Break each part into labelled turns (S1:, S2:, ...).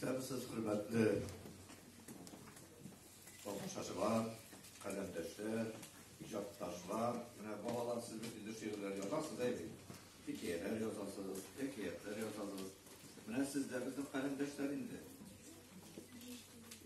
S1: Исәнмесез, хөрмәтле алкышлар, каләмдәшләр, иҗатташлар. Менә балалар сез инде шигырьләр язасыз, әйе? Хикәяләр язасыз, хикәятләр язасыз. Менә сез дә безнең каләмдәшләр инде.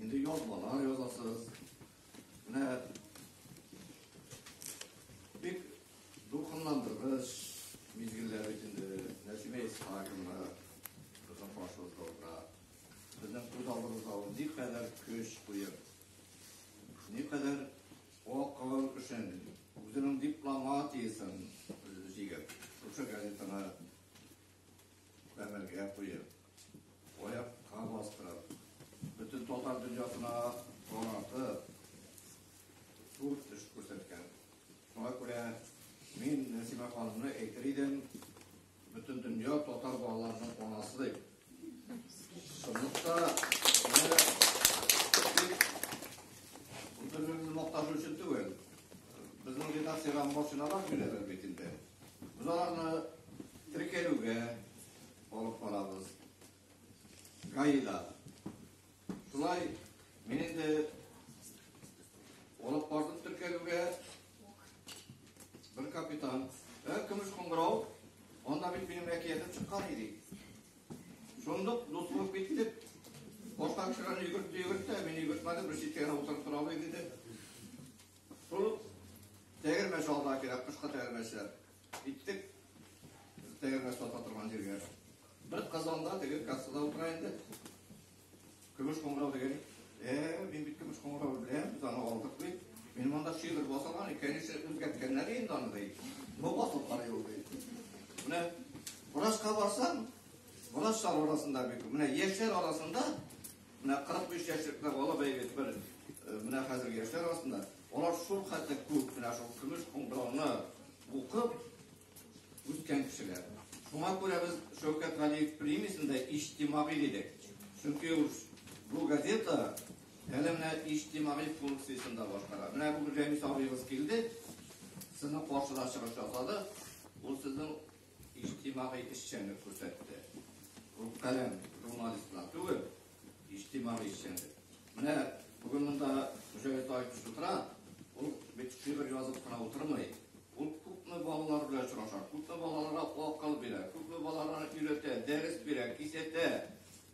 S1: Инде язмалар язасыз. Менә бик дулкынландыргыч мизгелләр бит инде. Нәсимә Исхакова кызым башылдыгында безнең күз алдыбызда ул никадәр көч куеп, никадәр халкыбыз өчен үзенең дипломатиясен җигеп, шушы газетаны гамәлгә куеп, Аякка бастырып, бөтен татар дөньясына танытып, зур эш күрсәткән. Шуңа күрә мин Нәсимә ханымны әйтер идем, бөтен дөнья татар балаларының анасы дип. Шунлыкта бөтенлегемне мактану өчен түгел. Безнең редакциягә машиналар бирәләр бит инде. Без аларны теркәлүгә, алып барабыз. Гаилә. Шулай мин инде алып бардым теркәлүгә. Бер капитан. Ә көмеш кыңгырау. Анда бит минем әкиятем чыккан иде. Шундук дус булып киттек. Башка кешеләрне йөгертте, йөгертте, мин йөгертмәдем, бер читкә генә утырып тора алмый диде. Шул тәгәрмәч алда кирәк, кышка тәгәрмәчләр. Иттек. Тәгәрмә сата торган җиргә. Бер казанда теге кассада утыра инде. Көмеш кыңгырау дигән. Э, мин бит көмеш кыңгырау беләм, без аны алдык бит. Мин монда шигырь басалар, икенче үзгәрткәннәр инде аны ди. Бу басып карый ул ди. Менә врачка барсам, врачлар арасында бит. Менә яшьләр арасында, менә 45 яшьлек бала бәйгет бер. Э, менә хәзер яшьләр арасында Алар шул хәтле күп, менә шул көмеш кыңгырауны укып үскән кешеләр. Шуңа күрә без Шәүкәт Галиев премиясен дә иҗтимагый дидек. Чөнки ул бу газета әле менә иҗтимагый функциясен дә башкара. Менә бүген Рәмис абыегыз килде, сезнең каршыда чыгыш ясады. Ул сезнең иҗтимагый эшчәнлек күрсәтте. Ул каләм журналистлар түгел, иҗтимагый эшчәнлек. Менә бүген монда Мөҗәлит Таевич утыра, ул бит шигырь язып кына утырмый. Ул күпме балалар белән очраша, күпме балаларга акыл бирә, күпме балаларга өйрәтә, дәрес бирә, кисәтә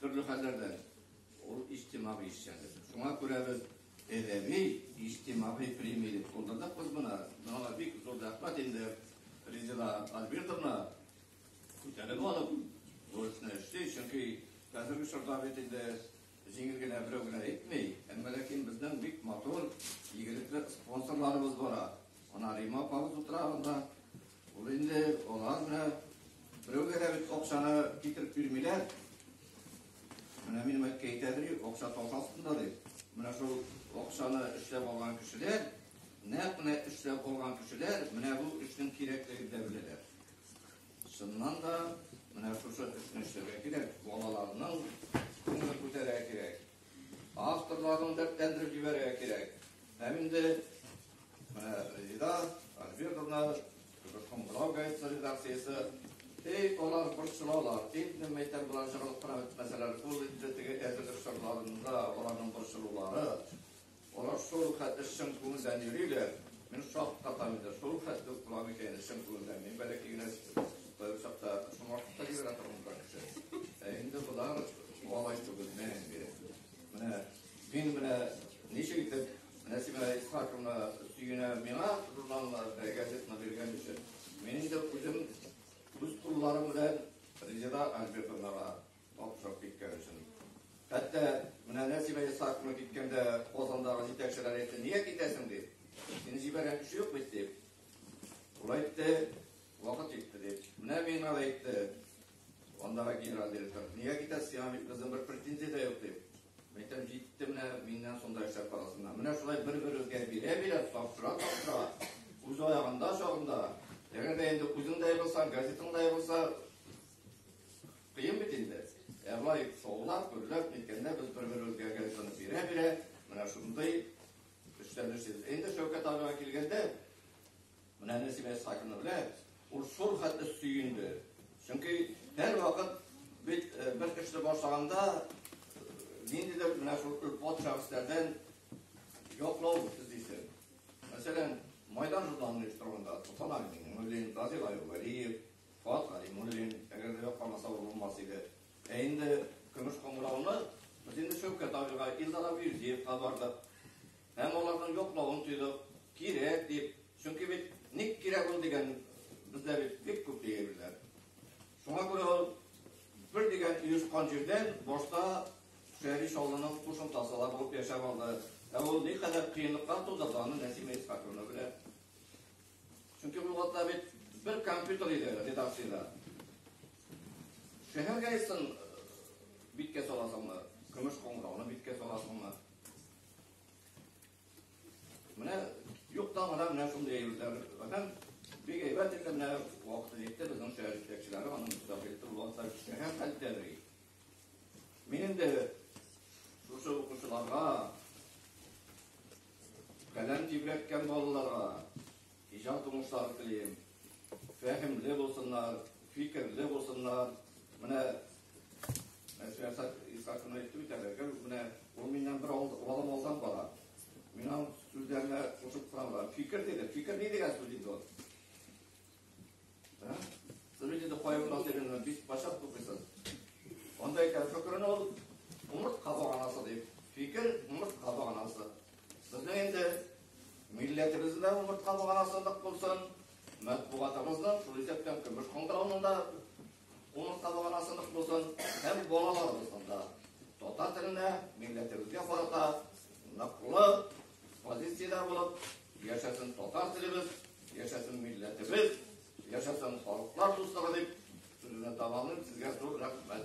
S1: төрле хәлләрдән. Ул иҗтимагый эшчәнлек. Шуңа күрә без Әдәби, иҗтимагый премия дип кулдырдык без моны. Моңа бик зур рәхмәт инде Резеда Альбертовна күтәреп алып, бурычны эшли, чөнки хәзерге чорда бит инде җиңел генә берәү генә итми, әмма ләкин безнең бик матур, игелекле спонсорларыбыз бара. Ана Рима апабыз утыра анда, Ул инде алар менә берәүгә дә бит акчаны китереп бирмиләр. Менә минем әткәй әйтә ди, акча таш астында ди. Менә шул акчаны эшләп алган кешеләр, нәкъ менә эшләп алган кешеләр менә бу эшнең кирәклеген дә беләләр. Чыннан да менә шушы эшне эшләргә кирәк, балаларның күңелен күтәрергә кирәк. Авторларны дәртләндереп җибәрергә кирәк. Һәм инде Менә Резеда Альбертовна, Кызыкның Брау газетасы редакциясе, Эй, алар борчылалар, әйтмим мәйтәм болар жыгылып кына бетмәсәләр, ул инде теге әзерлек чорларында аларның борчылулары, алар шул хәтле чын күңелдән йөриләр, мин шаккатам инде, шул хәтле үк була микән инде чын күңелдән, мин бәләкәй генә бер чакта шуңа хакта килгән торган бер кеше. Ә инде болар алай түгел, мәңге. Менә мин менә ничек итеп Нәсимә Исхаковна сөенә миңа журналны, газетны биргән өчен. Мин инде үзем үз кулларым белән Резеда Альбертовнага тапшырып киткән өчен. Хәтта менә Нәсимә Исхаковна киткәндә Казандагы җитәкчеләр әйтте, нигә китәсең дип. Сине җибәргән кеше юк бит дип. Ул әйтте, вакыт җитте дип. Менә миңа да әйтте, андагы генерал директор, нигә китәсең, сиңа бит безнең бер претензия дә юк дип. Мәйтәм, җитте менә миннән шунда эшләп карасыннар. Менә шулай бер-берегезгә бирә-бирә, тапшыра-тапшыра, үз аягында чагында, әгәр дә инде үзең дә егылсаң, газетың да егылса, кыен бит инде. Ә былай шаулап, гөрләп, ниткәндә без бер-берегезгә газетаны бирә-бирә, менә шундый эшләнешсез. Инде Шәүкәт абыйга килгәндә, Менә Нәсимә Исхакина белән ул шул хәтле сөенде. Чөнки һәрвакыт бит бер эшне башлаганда ниндидер менә шул өлпат шәхесләрдән яклау эзлисең. Мәсәлән, Майдан журналының редакторында Солтан Агимуллин, Разил Аювалиев, Фат Галимуллин, әгәр дә якланмаса ул булмас иде. Ә инде көмеш кыңгырауны без инде Шәүкәт абыйга, Илдар Абюзиевка бардык. Һәм аларның яклавын тойдык, кирәк дип, чөнки бит ник кирәк ул дигән бездә бит бик күп диеләр. Шуңа күрә ул бер дигән оешкан җирдән башта Шәри Шаллының кушымтасы ла булып яшәп алды. Ә ул ни кадәр кыенлыклар тудырды, аны Нәсимә Исхаковна белә. Чөнки бу вакытта бит бер компьютер иде редакциядә. Шәһәр гәзитен биткә саласыңмы, көмеш коңгырауны биткә саласыңмы? Менә юкта гына менә шундый әйберләр. Һәм бик әйбәт итеп менә вакыты җитте безнең шәһәр җитәкчеләре аның мөстәкыйль булганда эшләгән хәлдә бери. Мин инде шушы укучыларга, каләм тибрәткән балаларга, Иҗат уңышлары телим. Фәһемле булсыннар, фикерле булсыннар. Менә Мәсәлән, Исхакны әйтте бит әле, гел менә ул миннән бер алым алдан бара. Мин аның сүзләренә кушып торам. Фикер диде, фикер ни дигән сүз инде ул? Сез инде кайгы насыйбын бик башап тукыйсыз. Анда икән фикерен ул умырт кабыганасы дип. Фикер умырт кабыганасы. Безнең инде милләтебездә умыртка булган асылдык булсын, матбугатыбызның Туризектан көмеш кыңгыравында умыртка булган асылдык булсын, һәм балаларыбызның да татар теленә, милләтебезгә карата ныклы позициядә булып, яшәсен татар телебез, яшәсен милләтебез, яшәсен халыклар дуслыгы дип сүзне тамамлыйм. Сезгә зур рәхмәт.